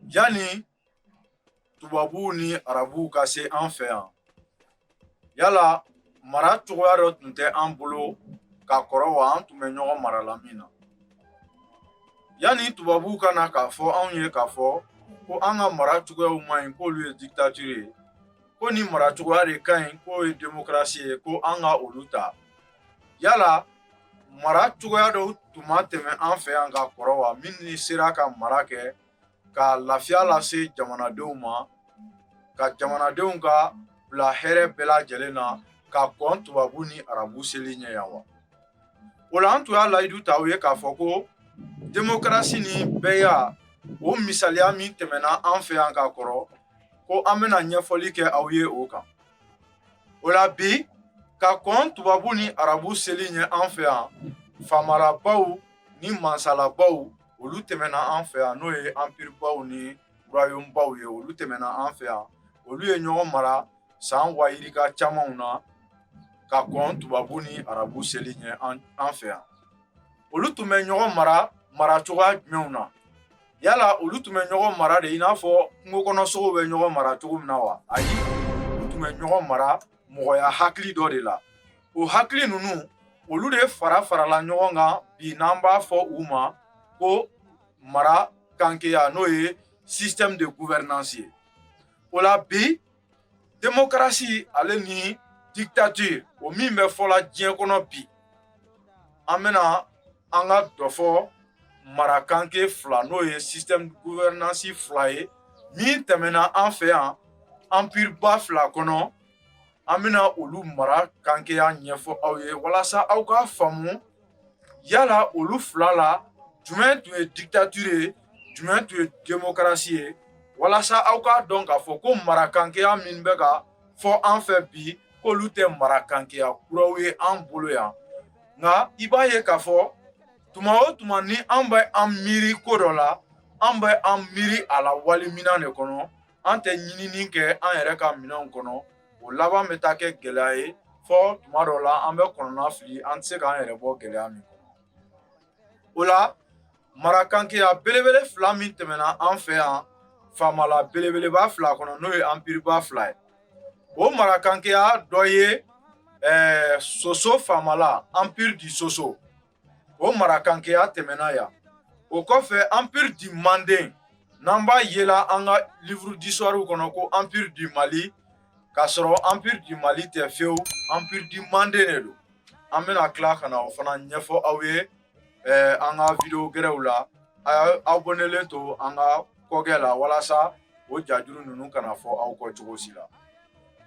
Yanni tubabuw ni arabuw ka se an fɛ yan yala mara cogoya dɔ tun tɛ an bolo ka kɔrɔ wa an tun bɛ ɲɔgɔn mara la min na yanni tubabuw ka na k'a fɔ anw ye k'a fɔ ko an ka mara cogoyaw man ɲi k'olu ye dictature ye ko ni mara cogoya de ka ɲi k'o ye démocratie ye ko an ka olu ta yala mara cogoya dɔw tun ma tɛmɛ an fɛ yan ka kɔrɔ wa min ni sera ka mara kɛ ka lafiya lase jamanadenw ma ka jamanadenw ka bila hɛrɛ bɛɛ lajɛlen na ka kɔn tubabu ni arabu seli ɲɛ yan wa o la an tun y'a layidu ta aw ye k'a fɔ ko demokarasi ni bɛɛya o misaliya min tɛmɛna an fɛ yan ka kɔrɔ ko an bɛna ɲɛfɔli kɛ aw ye o kan o la bi ka kɔn tubabu ni arabu seli ɲɛ an fɛ yan faamalabaw ni mansalabaw olu tɛmɛna an fɛ yan n'o ye anpiribaw ni royaume baw ye olu tɛmɛna an fɛ yan olu ye ɲɔgɔn mara san waa yirika camanw na ka kɔn tubabu ni arabu seli ɲɛ an fɛ yan olu tun bɛ ɲɔgɔn mara mara cogoya jumɛnw na yala olu tun bɛ ɲɔgɔn mara de i n'a fɔ kungo kɔnɔ sogow bɛ ɲɔgɔn mara cogo min na wa ayi olu tun bɛ ɲɔgɔn mara mɔgɔya hakili dɔ de la o hakili ninnu olu de fara farala ɲɔgɔn kan bi n'an b'a fɔ u ma ko mara kankeya n'o ye système de gouvernance ye o la bi demokarasi ale ni dictature o min bɛ fɔla diɲɛ kɔnɔ bi an bɛna an ka dɔ fɔ marakanke fila n'o ye système gouvernance fila ye min tɛmɛna an fɛ yan empire ba fila kɔnɔ an bɛna olu mara kankeya ɲɛfɔ aw ye walasa aw k'a faamu yala olu fila la jumɛn tun ye dictature ye jumɛn tun ye démocratie ye walasa aw k'a dɔn k'a fɔ ko marakankeya min bɛ ka fɔ an fɛ bi k'olu tɛ marakankeya kuraw ye an bolo yan nka i b'a ye k'a fɔ tuma o tuma ni an bɛ an miiri ko dɔ la an bɛ an miiri a la wali minan de kɔnɔ an tɛ ɲinini kɛ an yɛrɛ ka minɛnw kɔnɔ o laban bɛ taa kɛ gɛlɛya ye fo tuma dɔ la an bɛ kɔnɔna fili an tɛ se k'an yɛrɛ bɔ gɛlɛya min kɔnɔ o la marakankeya belebele fila min tɛmɛna an fɛ yan faamala belebeleba fila kɔnɔ n'o ye anpiriba fila ye o marakankeya dɔ ye ɛɛ soso faamala empire du soso O mara kankeya tɛmɛna yan o kɔfɛ empire du manden n'an b'a yela an ka livre d'histoirew kɔnɔ ko empire du mali k'a sɔrɔ empire du mali tɛ fewu empire du manden de don an bɛna tila ka na o fana ɲɛfɔ aw ye an ka vidéo gɛrɛw la aw abonnélen to an ka kɔkɛ la walasa o jajuru ninnu kana fɔ aw kɔ cogo si la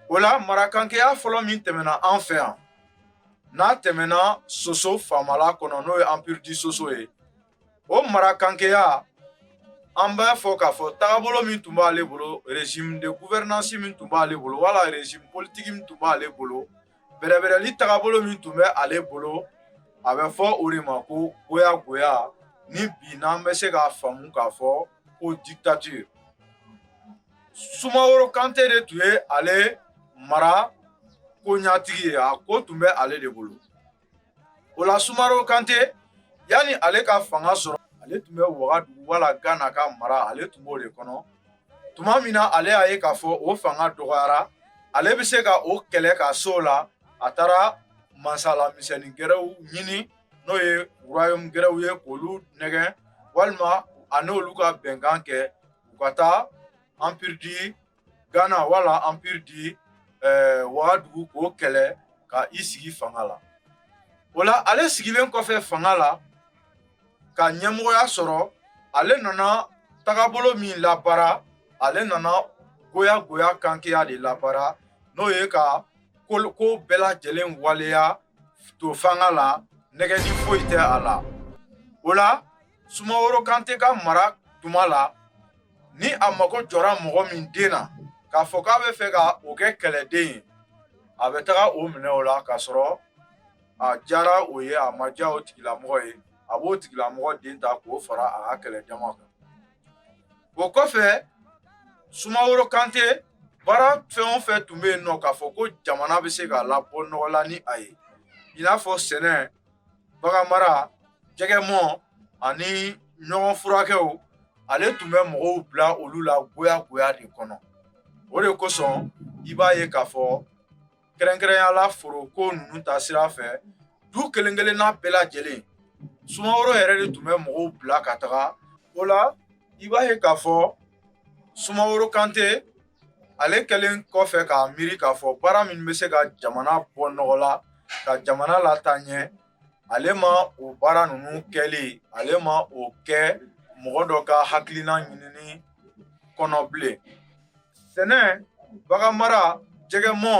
o la mara kankeya fɔlɔ min tɛmɛna an fɛ yan n'a tɛmɛna soso faamala kɔnɔ n'o ye empire du soso ye o mara kankeya an b'a fɔ k'a fɔ tagabolo min tun b'ale bolo régime de gouvernance min tun b'ale bolo wala régime politique min tun b'ale bolo bɛrɛbɛrɛli tagabolo min tun bɛ ale bolo a bɛ fɔ o de ma ko goya goya ni bi n'an bɛ se k'a faamu k'a fɔ ko dictature sumaworo kante de tun ye ale mara ko ɲatigi ye a ko tun bɛ ale de bolo o la sumaworo kante yanni ale ka fanga sɔrɔ ale tun bɛ wagadugu wala gana ka mara ale tun b'o de kɔnɔ tuma min na ale y'a ye k'a fɔ o fanga dɔgɔyara ale bɛ se ka o kɛlɛ ka s'o la a taara masala misɛnnin gɛrɛw ɲini n'o ye royaume gɛrɛw ye k'olu nɛgɛn walima a n'olu ka bɛnkan kɛ u ka taa empire du Ghana wala empire du eh, Wagadugu k'o kɛlɛ ka i sigi fanga la o la ale sigilen kɔfɛ fanga la ka ɲɛmɔgɔya sɔrɔ ale nana tagabolo min labaara ale nana goya goya kankeya de labaara n'o ye ka ko bɛɛ lajɛlen waleya to fanga la nɛgɛni foyi tɛ a la o la Sumaworo kante ka mara tuma la ni a mago jɔra mɔgɔ min den na k'a fɔ k'a bɛ fɛ ka o kɛ kɛlɛden ye a bɛ taga o minɛ o la k'a sɔrɔ a diyara o ye a ma diya o tigilamɔgɔ ye a b'o tigilamɔgɔ den ta k'o fara a ka kɛlɛ jama kan o kɔfɛ sumaworo kante baara fɛn o fɛn tun bɛ yen nɔ k'a fɔ ko jamana bɛ se ka labɔ nɔgɔ la ni a ye i n'a fɔ sɛnɛ bagan mara jɛgɛ mɔ ani ɲɔgɔn furakɛw ale tun bɛ mɔgɔw bila olu la goya goya de kɔnɔ o de kosɔn i b'a ye k'a fɔ kɛrɛnkɛrɛnyala foroko ninnu ta sira fɛ du kelen kelenna bɛɛ lajɛlen sumaworo yɛrɛ de tun bɛ mɔgɔw bila ka taga o la i b'a ye k'a fɔ sumaworo kante ale kɛlen kɔfɛ k'a miiri k'a fɔ baara min bɛ se ka jamana bɔ nɔgɔ la ka jamana lataa ɲɛ ale ma o baara ninnu kɛli ale ma o kɛ mɔgɔ dɔ ka hakilina ɲinini kɔnɔ bilen sɛnɛ bagan mara jɛgɛ mɔ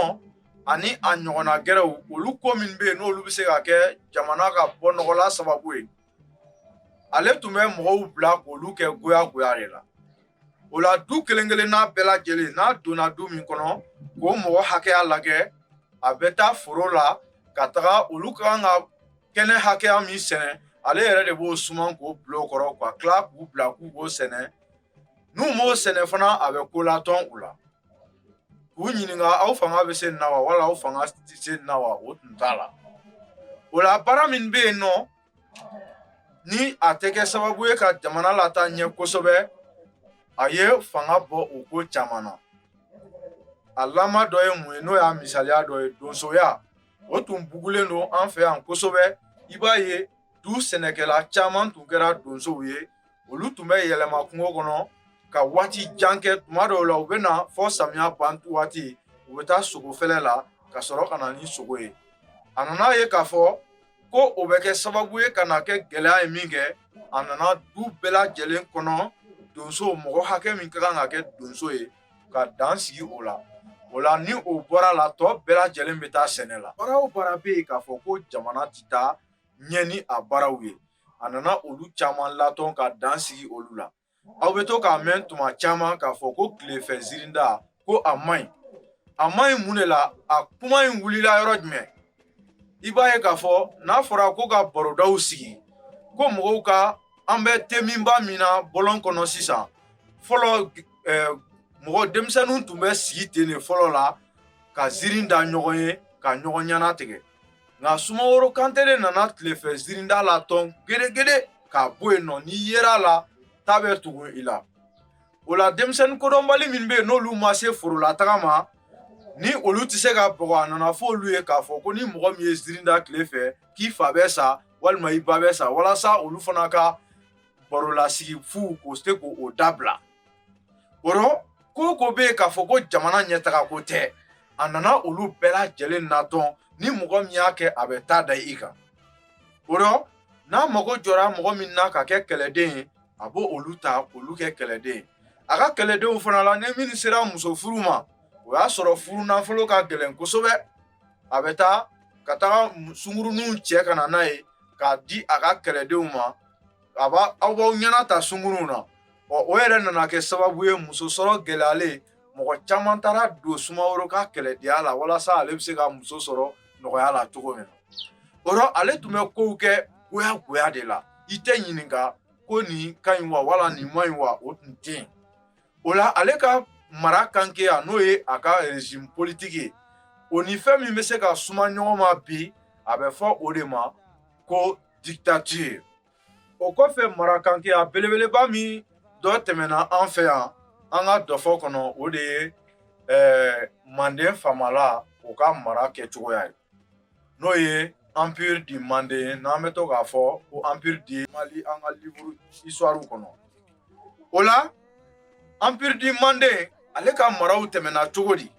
ani a ɲɔgɔnna gɛrɛw olu ko min bɛ yen n'olu bɛ se ka kɛ jamana ka bɔ nɔgɔla sababu ye ale tun bɛ mɔgɔw bila k'olu kɛ goyagoya de la o la du kelen kelenna bɛɛ lajɛlen n'a donna du min kɔnɔ k'o mɔgɔ hakɛya lajɛ a bɛ taa foro la ka taga olu ka kan ka kɛnɛ hakɛya min sɛnɛ ale yɛrɛ de b'o suman k'o bila o kɔrɔ ka tila k'u bila k'u k'o sɛnɛ n'u m'o sɛnɛ fana a bɛ ko latɔn u la u ɲininka aw fanga bɛ se nin na wa wala aw fanga tɛ se nin na wa o tun t'a la o la baara min bɛ yen nɔ ni a tɛ kɛ sababu ye ka jamana lataa ɲɛ kosɛbɛ a ye fanga bɔ o ko caman na a lama dɔ ye mun ye n'o y'a misaliya dɔ ye donsoya o tun bugulen don an fɛ yan kosɛbɛ i b'a ye du sɛnɛkɛla caman tun kɛra donsow ye olu tun bɛ yɛlɛma kungo kɔnɔ ka waati jan kɛ tuma dɔw la u bɛ na fɔ samiya ban waati u bɛ taa sogo fɛlɛ la ka sɔrɔ ka na ni sogo ye a nana a ye k'a fɔ ko o bɛ kɛ sababu ye ka na kɛ gɛlɛya ye minkɛ a nana du bɛɛ lajɛlen kɔnɔ donso mɔgɔ hakɛ min ka kan ka kɛ donso ye ka dan sigi o la o la ni o bɔra la tɔ bɛɛ lajɛlen bɛ taa sɛnɛ la baara o baara bɛ yen k'a fɔ ko jamana tɛ taa ɲɛ ni a baaraw ye a nana olu caman latɔn ka dan sigi olu la aw bɛ to k'a mɛn tuma caman k'a fɔ ko tilefɛ zirinda ko a man ɲi a man ɲi mun de la a kuma in wulila yɔrɔ jumɛn i b'a ye k'a fɔ n'a fɔra ko ka barodaw sigi ko mɔgɔw ka an bɛ teminba min na bɔlɔn kɔnɔ sisan fɔlɔ eh, mɔgɔ denmisɛnninw tun bɛ sigi ten de fɔlɔ la ka zirin da ɲɔgɔn ye ka ɲɔgɔn ɲɛna tigɛ nka sumaworo kante de nana tilefɛ zirinda latɔn gedegede k'a bɔ yen nɔ n'i yer'a la ta bɛ tugu i la o la denmisɛnnin kodɔnbali min bɛ yen n'olu ma se forolataga ma ni olu tɛ se ka bɔgɔ a nana fɔ olu ye k'a fɔ ko ni mɔgɔ min ye zirin da tile fɛ k'i fa bɛ sa walima i ba bɛ sa walasa olu fana ka barolasigi fu k'o se k'o dabila o rɔ ko o ko bɛ yen k'a fɔ ko jamana ɲɛtaga ko tɛ a nana olu bɛɛ lajɛlen natɔn ni mɔgɔ min y'a kɛ a bɛ ta da i kan o rɔ n'a mago jɔra mɔgɔ min na ka kɛ kɛlɛden ye a b'olu ta k'olu kɛ kɛlɛden ye a ka kɛlɛdenw fana la ni minnu sera muso furu ma o y'a sɔrɔ furu nafolo ka gɛlɛn kosɛbɛ a bɛ taa ka taga sunguruninw cɛ ka na n'a ye k'a di a ka kɛlɛdenw ma a b'a aw b'aw ɲɛnata sunguruw na ɔ o yɛrɛ nana kɛ sababu ye muso sɔrɔ gɛlɛyalen mɔgɔ caman taara don sumaworo ka kɛlɛdenya la walasa ale bɛ se ka muso sɔrɔ nɔgɔya la cogo min na o rɔ ale tun bɛ kow kɛ goya goya de la i tɛ ɲininka ko nin ka ɲi wa wala nin man ɲi wa o tun tɛ yen o la ale ka mara kankeya n'o ye a ka régime politique ye o ni fɛn min bɛ se ka suma ɲɔgɔn ma bi a bɛ fɔ o de ma ko dictature o kɔfɛ marakankɛya belebeleba min dɔ tɛmɛna an fɛ yan an ka dɔfɔ kɔnɔ o de ye eh, manden faamala o ka mara kɛcogoya ye n'o ye empire du manden n'an bɛ to k'a fɔ ko empire du mali an ka livre histoire kɔnɔ o la empire du manden ale ka maraw tɛmɛna cogo di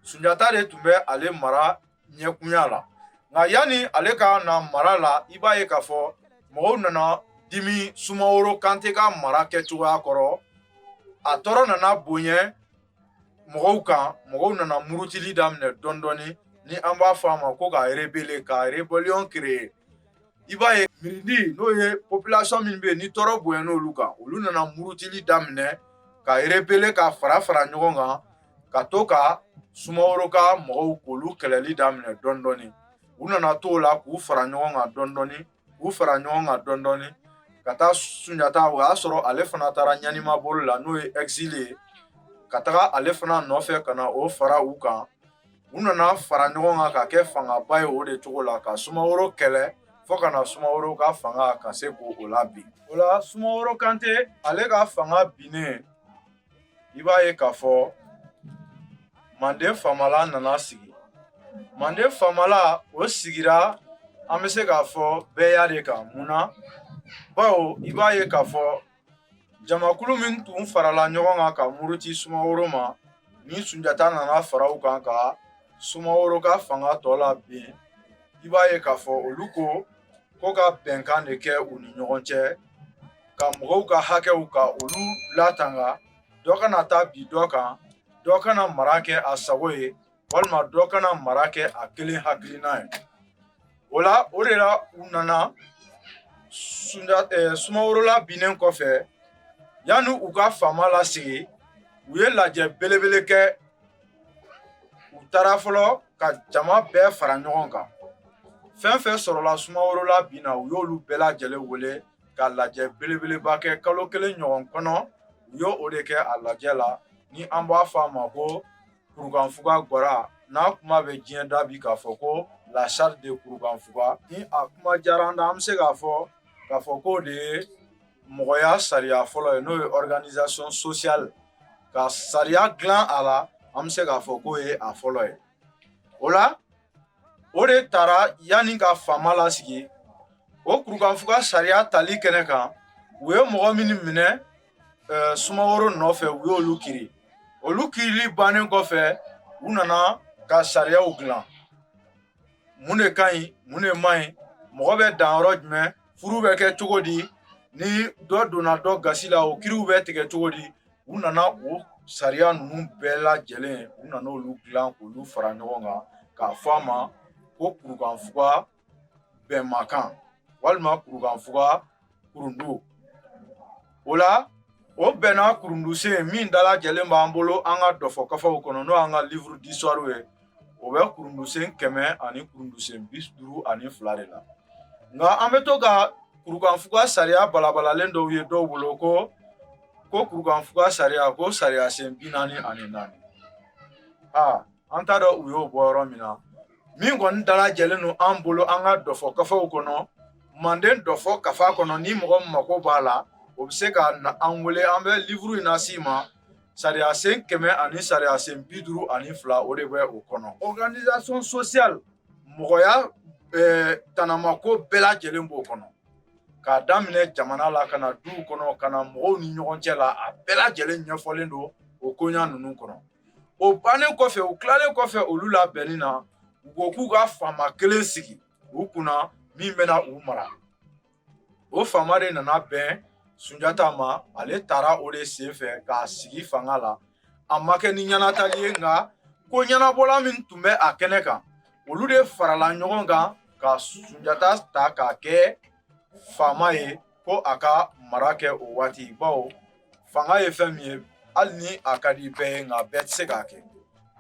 sunjata de tun bɛ ale mara ɲɛkunya la nka yanni ale ka na mara la i b'a ye k'a fɔ mɔgɔw nana dimi sumaworo kante ka mara kɛcogoya kɔrɔ a tɔɔrɔ nana bonya mɔgɔw kan mɔgɔw nana murutili daminɛ dɔɔni dɔɔni ni an b'a fɔ a ma ko ka rebeller ka rébellion créer i b'a ye mirindi n'o ye population min bɛ yen ni tɔɔrɔ bonyan'olu kan olu nana murutili daminɛ ka rebeller ka fara fara ɲɔgɔn kan ka to ka sumaworo ka mɔgɔw k'olu kɛlɛli daminɛ dɔɔni dɔɔni u nana t'o la k'u fara ɲɔgɔn kan dɔɔni dɔɔni k'u fara ɲɔgɔn kan dɔɔni dɔɔni ka taa sunjata o y'a sɔrɔ ale fana taara ɲanimaboli la n'o ye exil ye ka taga ale fana nɔfɛ ka na o fara u kan u nana fara ɲɔgɔn kan ka kɛ fangaba ye o de cogo la ka sumaworo kɛlɛ fo ka na sumaworo ka fanga ka se k'o labin o la sumaworo kante ale ka fanga binnen i b'a ye k'a fɔ manden faamala nana sigi manden faamala o sigira an bɛ se k'a fɔ bɛɛya de kan mun na bawo i b'a ye k'a fɔ jamakulu min tun farala ɲɔgɔn kan ka muruti sumaworo ma ni sunjata nana fara u kan ka sumaworo ka fanga tɔ labin i b'a ye k'a fɔ olu ko ko ka bɛnkan de kɛ u ni ɲɔgɔn cɛ ka mɔgɔw ka hakɛw ka olu latanga dɔ kana taa bin dɔ kan dɔ kana mara kɛ a sago ye walima dɔ kana mara kɛ a kelen hakilina ye o la o de la u nana sunda eh, sumaworo labinnen kɔfɛ yanni u ka faama lasigi u ye lajɛ belebele kɛ u taara fɔlɔ ka jama bɛɛ fara ɲɔgɔn kan fɛn fɛn sɔrɔla sumaworo labin na u y'olu bɛɛ lajɛlen wele ka lajɛ belebeleba kɛ kalo kelen ɲɔgɔn kɔnɔ u y'o de kɛ a lajɛ la ni an b'a fɔ a ma ko kurukanfuga gwara n'a kuma bɛ diɲɛ da bi k'a fɔ ko la charte de kurukanfuga ni a kuma diyara an na an bɛ se k'a fɔ k'a fɔ k'o de ye mɔgɔya sariya fɔlɔ ye n'o ye organisation sociale ka sariya dilan a la an bɛ se k'a fɔ k'o ye a fɔlɔ ye o la o de taara yanni ka faama lasigi o kurukanfuga sariya tali kɛnɛ kan u ye mɔgɔ minnu minɛ eh, sumaworo nɔfɛ u y'olu kiri olu kirili bannen kɔfɛ u nana ka sariyaw dilan mun de ka ɲi mun de man ɲi mɔgɔ bɛ dan yɔrɔ jumɛn furu bɛ kɛ cogo di ni dɔ donna dɔ gasi la o kiriw bɛ tigɛ cogo di u nana o sariya ninnu bɛɛ lajɛlen u nana olu dilan k'olu fara ɲɔgɔn kan k'a fɔ a ma ko kurukanfuga bɛnmakan walima kurukanfuga kurundu o la o bɛnna kurundusen min dalajɛlen b'an bolo an ka dɔfɔ kafaw kɔnɔ n'o y'an ka livre d'histoire ye o bɛ kurundusen kɛmɛ ani kurundusen bi duuru ani fila de la nka an bɛ to ka kurukanfuga sariya balabalalen dɔw ye dɔw bolo ko ko kurukanfuga sariya ko sariya sen bi naani ani naani aa an t'a dɔn u y'o bɔ yɔrɔ min na min kɔni dalajɛlen don an bolo an ka dɔfɔ kafaw kɔnɔ manden dɔfɔ kafa kɔnɔ ni mɔgɔ mako b'a la o bɛ se ka na an wele an bɛ livuru in lase i ma sariya sen kɛmɛ ani sariya sen bi duuru ani fila o de bɛ o kɔnɔ organisation sociale mɔgɔya eh, tanamako bɛɛ lajɛlen b'o kɔnɔ k'a daminɛ jamana la ka na duw kɔnɔ ka na mɔgɔw ni ɲɔgɔn cɛ la a bɛɛ lajɛlen ɲɛfɔlen don o koɲa ninnu kɔnɔ o bannen kɔfɛ u tilalen kɔfɛ olu labɛnni na u ko k'u ka faama kelen sigi u kunna min bɛna u mara o faama de nana bɛn sunjata ma ale taara o de sen fɛ k'a sigi fanga la a ma kɛ ni ɲɛnatali ye nka ko ɲɛnabɔla min tun bɛ a kɛnɛ kan olu de farala ɲɔgɔn kan ka sunjata ta k'a kɛ faama ye ko a ka mara kɛ o waati bawo fanga ye fɛn min ye hali ni a ka di bɛɛ ye nka bɛɛ tɛ se k'a kɛ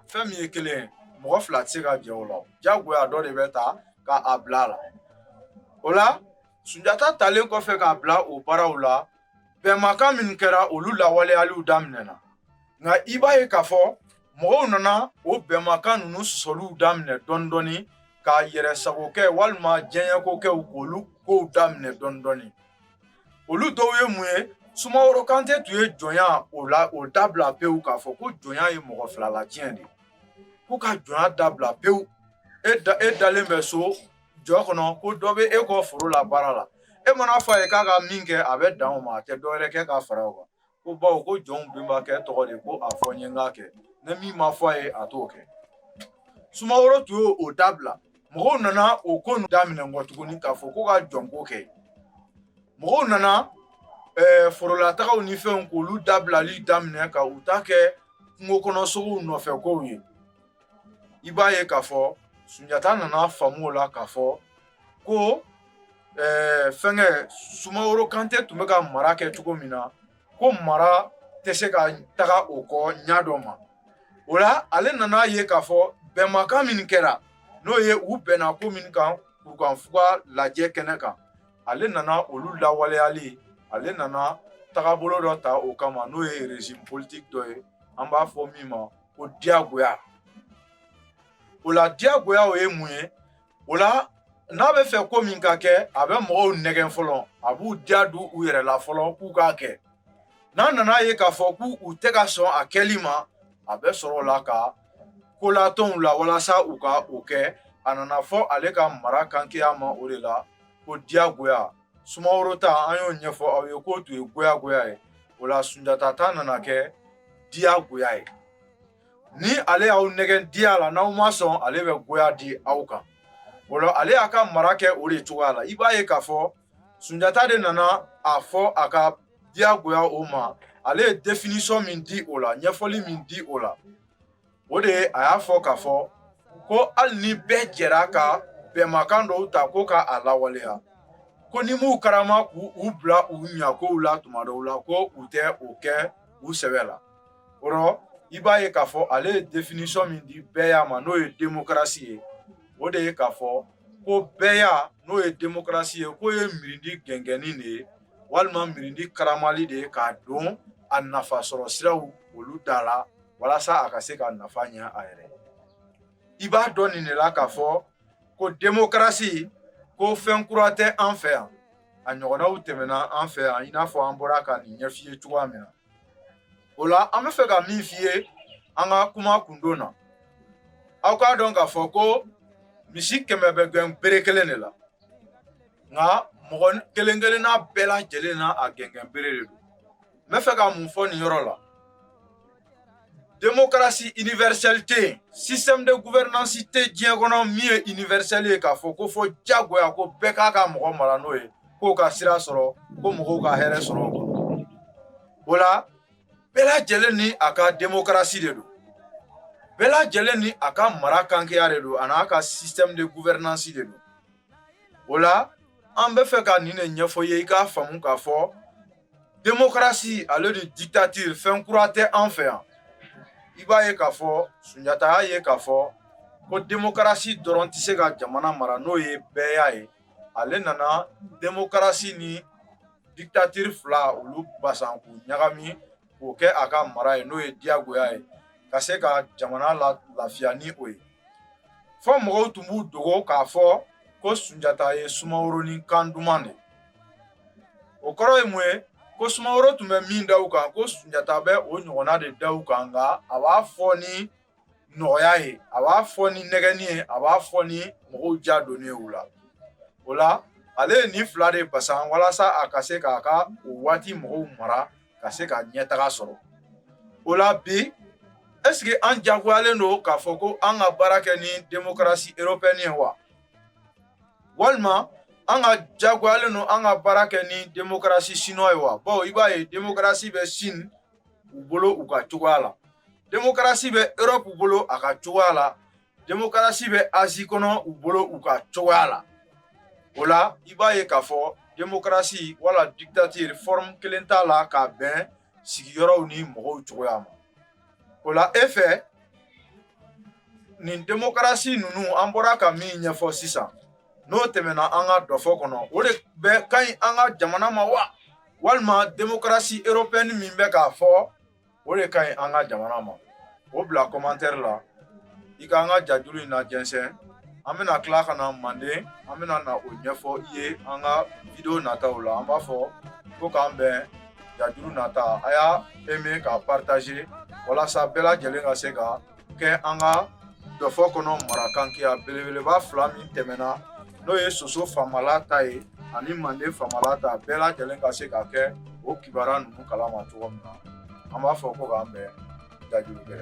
fɛn min ye kelen ye mɔgɔ fila tɛ se ka jɛ o la jagoya dɔ de bɛ ta ka a bila a la o la sunjata talen kɔfɛ k'a bila o baaraw la bɛnmakan min kɛra olu lawaleyaliw daminɛna nka i b'a ye k'a fɔ mɔgɔw nana o bɛnmakan ninnu sɔsɔliw daminɛ dɔɔni dɔɔni k'a yɛrɛ sago kɛ walima diɲɛko kɛw k'olu kow daminɛ dɔɔni dɔɔni olu dɔw ye mun ye sumaworo kante tun ye jɔnya o la o dabila pewu k'a fɔ ko jɔnya ye mɔgɔ fila latiɲɛ de ko ka jɔnya dabila pewu e da e dalen bɛ so jɔ kɔnɔ ko dɔ bɛ e kɔ foro la baara la e mana fɔ a ye k'a ka min kɛ a bɛ dan o ma a tɛ dɔwɛrɛ kɛ k'a fara o kan ko bawo ko jɔnw bɛnbakɛ tɔgɔ de ko a fɔ n ye n k'a kɛ ni min ma fɔ a ye a t'o kɛ sumaworo tun y'o o dabila mɔgɔw nana o ko ninnu daminɛ kɔ tuguni k'a fɔ ko ka jɔnko kɛ mɔgɔw nana ɛɛ forolatagaw ni fɛnw k'olu dabilali daminɛ ka u ta kɛ kungo kɔnɔ sogow nɔfɛ kow ye i b'a ye k'a fɔ sunjata nana faamu o la k'a fɔ ko ɛɛ fɛnkɛ sumaworo kante tun bɛ ka mara kɛ cogo min na ko mara tɛ se ka taga o kɔ ɲa dɔ ma o la ale nana ye k'a fɔ bɛnmakan min kɛra n'o ye u bɛnna ko min kan kurukanfuga lajɛ kɛnɛ kan ale nana olu lawaleyali ale nana tagabolo dɔ ta o kama n'o ye régime politique dɔ ye an b'a fɔ min ma ko diyagoya o la diyagoya o ye mun ye o la n'a bɛ fɛ ko min ka kɛ a bɛ mɔgɔw nɛgɛn fɔlɔ a b'u diya don u yɛrɛ la fɔlɔ k'u k'a kɛ n'a nana ye k'a fɔ k'u tɛ ka sɔn a kɛli ma a bɛ sɔrɔ o la ka ko latɔn u la walasa u ka o kɛ a nana fɔ ale ka mara kankeya ma o de la ko diyagoya sumaworo ta an y'o ɲɛfɔ aw ye k'o tun ye goyagoya ye o la sunjata ta nana kɛ diyagoya ye ni ale y'aw nɛgɛn diya la n'aw ma sɔn ale bɛ goya di aw kan o la ale y'a ka mara kɛ o de cogoya la i b'a ye k'a fɔ Sunjata de nana a fɔ a ka diyagoya o ma ale ye définition min di o la ɲɛfɔli min di o la o de ye a y'a fɔ k'a fɔ ko hali ni bɛɛ jɛra ka bɛnmakan dɔw ta ko ka a lawaleya ko n'i m'u karama k'u u bila u ɲakow la tuma dɔw la ko u tɛ o kɛ u sɛbɛ la o rɔ i b'a ye k'a fɔ ale ye définition min di bɛɛya ma n'o ye démocratie ye o de ye k'a fɔ ko bɛɛya n'o ye démocratie ye k'o ye mirindi gɛngɛnni de ye walima mirindi karamali de ye k'a don a nafa sɔrɔ siraw olu da la walasa a ka se ka nafa ɲɛ a yɛrɛ i b'a dɔn nin de la k'a fɔ ko démocratie ko fɛn kura tɛ an fɛ yan a ɲɔgɔnnaw tɛmɛna an fɛ yan i n'a fɔ an bɔra ka nin ɲɛf'i ye cogoya min na o la an bɛ fɛ ka min f'i ye an ka kuma kundon na aw k'a dɔn k'a fɔ ko misi kɛmɛ bɛ gɛn bere kelen de la nka mɔgɔ kelen kelenna bɛɛ lajɛlen na a gɛngɛn bere de don n bɛ fɛ ka mun fɔ nin yɔrɔ la demokarasi universelle tɛ yen système de gouvernance tɛ diɲɛ kɔnɔ min ye universelle ye k'a fɔ ko fɔ jagoya ko bɛɛ k'a ka mɔgɔ mara n'o ye k'o ka sira sɔrɔ ko mɔgɔw ka hɛrɛ sɔrɔ o kɔnɔ o la bɛɛ lajɛlen ni a ka demokarasi de don bɛɛ lajɛlen ni a ka mara kankeya de don an'a ka système de gouvernance de don o la an bɛ fɛ ka nin de ɲɛfɔ ye i k'a faamu k'a fɔ Démocratie ale ni dictature fɛn kura tɛ an fɛ yan i b'a ye k'a fɔ Sunjata y'a ye k'a fɔ ko démocratie dɔrɔn tɛ se ka jamana mara n'o ye bɛɛya ye ale nana démocratie ni dictature fila olu basan k'u ɲagami k'o kɛ a ka mara ye n'o ye diyagoya ye ka se ka jamana la lafiya ni o ye fɔ mɔgɔw tun b'u dogo k'a fɔ ko Sunjata ye Sumaworo ni kan duman de o kɔrɔ ye mun ye ko sumaworo tun bɛ min da u kan ko sunjata bɛ o ɲɔgɔnna de da u kan nka a b'a fɔ ni nɔgɔya ye a b'a fɔ ni nɛgɛnni ye a b'a fɔ ni mɔgɔw ja donni ye u la o la ale ye nin fila de basan walasa a ka se k'a ka o waati mɔgɔw mara ka se ka ɲɛtaga sɔrɔ o la bi ɛseke an jagoyalen don k'a fɔ ko an ka baara kɛ ni demokarasi eropɛni ye wa walima an ka jagoyalen don an ka baara kɛ ni demokarasi siniwa ye wa bawo i b'a ye demokarasi bɛ sini u bolo u ka cogoya la demokarasi bɛ erɔpu bolo a ka cogoya la demokarasi bɛ azi kɔnɔ u bolo u ka cogoya la o la i b'a ye k'a fɔ demokarasi wala dikitatiri fɔrɔmu kelen t'a la ka bɛn sigiyɔrɔw ni mɔgɔw cogoya ma o la e fɛ nin demokarasi ninnu an bɔra ka min ɲɛfɔ sisan n'o tɛmɛna an ka dɔfɔ kɔnɔ o de bɛ ka ɲi an ka jamana ma wa walima demokarasi eropɛni min bɛ k'a fɔ o de ka ɲi an ka jamana ma o bila kɔmantɛri la i ka an ka jajuru in lajɛnsɛn an bɛna tila ka na manden an bɛna na o ɲɛfɔ i ye an ka video nataw la an b'a fɔ ko k'an bɛn jajuru nata a y'a aimer k'a partager walasa bɛɛ lajɛlen ka se ka kɛ an ka dɔfɔ kɔnɔ marakankiya belebeleba fila min tɛmɛna n'o ye soso famala ta ye ani manden famala ta bɛɛ lajɛlen ka se ka kɛ o kibaruya ninnu kalama cogo min na an b'a fɔ ko k'an bɛn jajuru gɛrɛ